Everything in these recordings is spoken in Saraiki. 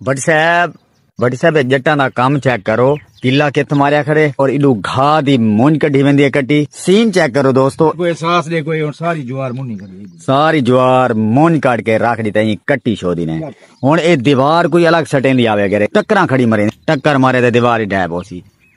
بٹ صاحب بٹ صاحب جٹاں دا کم چیک کرو کلا کت ماریا کھڑے اور ایڈو گھا دی مونج کڈھی ویندی ہے کٹی سین چیک کرو دوستو کوئی احساس دے کوئی ہن ساری جوار مونی کڈھی ساری جوار مونج کاٹ کے رکھ دی تیں کٹی چھو دی نے ہن اے دیوار کوئی الگ سٹیں دی آوے کرے ٹکراں کھڑی مرے ٹکر مارے تے دیوار ہی ڈھے بوسی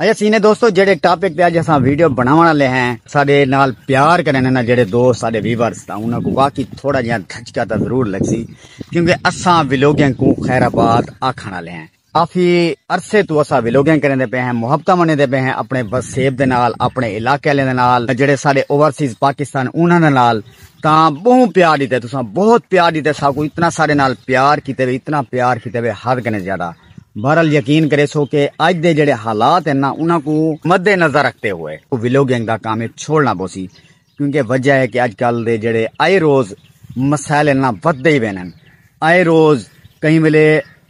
اچھا سینے دوستو جڑے ٹاپک تے اج اساں ویڈیو بناون والے ہیں ساڈے نال پیار کرن نا جڑے دوست ساڈے ویورز تا انہاں کو واقعی تھوڑا جیاں دھچکا تا ضرور لگسی کیونکہ اساں ویلوگنگ کو خیر آباد آکھن والے ہیں کافی عرصے تو اساں ویلوگنگ کرن دے پے ہیں محبتاں منن دے پے ہیں اپنے وسیب دے نال اپنے علاقے والے دے نال جڑے ساڈے اوورسیز پاکستان انہاں دے نال تا بہوں پیار دیتے تساں بہت پیار دیتے ساکو اتنا ساڈے نال پیار کیتے وے اتنا پیار کیتے وے حد کنے زیادہ بہرحال یقین کریسو کہ اج دے جڑے حالات ہیں نا انہاں کو مد نظر رکھتے ہوئے ویلوگنگ دا کام چھوڑنا پوسی کیونکہ وجہ ہے کہ اج کل دے جڑے آئے روز مسائل نا ود دے وینن آئے روز کہیں ویلے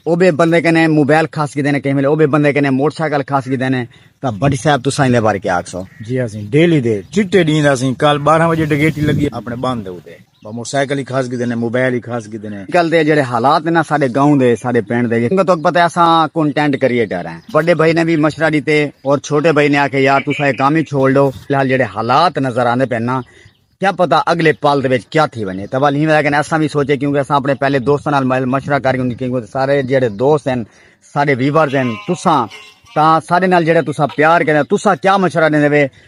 او بے بندے کنے موبائل کھاس کی دینے کہیں ویلے او بے بندے کنے موٹر سائیکل کھاس کی دینے تا بڑی صاحب تو سائیں دے بارے کیا آکھ سو جی ہاں سین ڈیلی دے چٹے دین دا سین کال 12 بجے ڈگیٹی لگی اپنے باندھ دے ہوتے موٹر سائیکل ہی کھاس گدے نے موبائل ہی کھاس گدے نے کل دے جڑے حالات نا سارے گاؤں دے سارے پنڈ دے جنگ تو پتہ ہے اساں کنٹینٹ کریٹر ہیں بڑے بھائی نے بھی مشورہ دیتے اور چھوٹے بھائی نے آکھے یار تساں یہ کام ہی چھوڑ لو فی الحال جڑے حالات نظر آندے پے نا کیا پتہ اگلے پال دے وچ کیا تھی ونجے تبا لیں کہ اساں بھی سوچے کیونکہ اساں اپنے پہلے دوستاں نال مشورہ کر کیونکہ کیونکہ سارے جڑے دوست ہیں سارے ویورز ہیں تساں تا سارے نال جڑے تساں پیار کرے تساں کیا مشورہ دیندے وے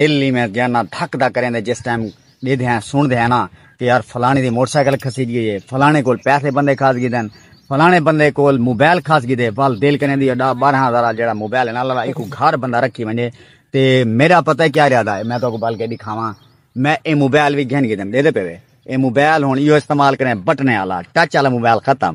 الی میں گیا نا دھک دا کریں دے جس ٹائم دے دے ہیں سن دے ہیں نا کہ یار فلانی دی موٹر سائیکل کھسی گئی ہے فلانے کول پیسے بندے کھاس گئی دن فلانے بندے کول موبائل کھاس گئی دے وال دل کریں دی اڈا بارہ ہزار جڑا موبائل ہے نا لالا ایک گھر بندہ رکھی منجے تے میرا پتہ کیا رہا دا ہے میں تو کو بال کے دکھاواں میں اے موبائل بھی گھن گئی دن دے دے پہ اے موبائل ہون یہ استعمال کریں بٹنے والا ٹچ والا موبائل ختم